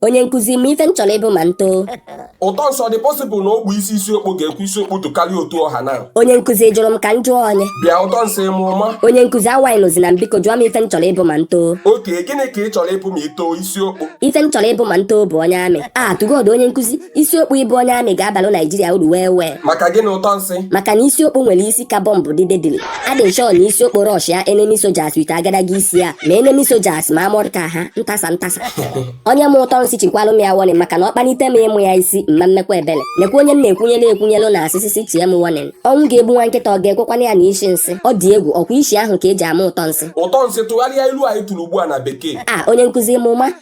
onye nkụzi ma ife m chọrọ ịbụ ma m too ụtọ nsị ọ dị pọsịbụl na ogbu isi isi okpo ga-ekwe isi okpo tokarịa otu ọ ha na onye nkụzi jụrụ m ka m jụọ onye bịa ụtọ nsị ịmụ ọma onye nkụzi awaị nụzi na m biko jụọ m ife m chọrọ ịbụ ma m too oke gịnị ka ị chọrọ ịbụ ma i too isi okpo ife m chọrọ ịbụ ma m too bụ onye amị a tụ gọd onye nkụzi isi okpo ịbụ onye amị ga-abalụ naijiria uru wee wee maka gịnị ụtọ nsị maka na isi okpo nwere isi ka bọmbụ dị dedili Adị m shọ na isi okpo rọshịa enemi sojas wit agadaga isi ya ma enemi sojas ma amọdụ ka ha ntasa ntasa onye ma ụtọ nsị chikwalụ m ya wọnịn maka na ọ kpanite m ịmụ ya isi m ma emekwa ebele nekwa onye m na-ekwunyere ekwunyelụ na-asị sị sị tie m wọnịn ọnwụ ga-egbu nwa nkịta ọ ga-ekwekwanụ ya nụ isi nsị ọ dị egwu ọ kwa isi ahụ ka e ji ama ụtọ nsị ụtọ nsị tụgharịa ilu anyị tụrụ ugbu a na bekee a onye nkụzi m ụma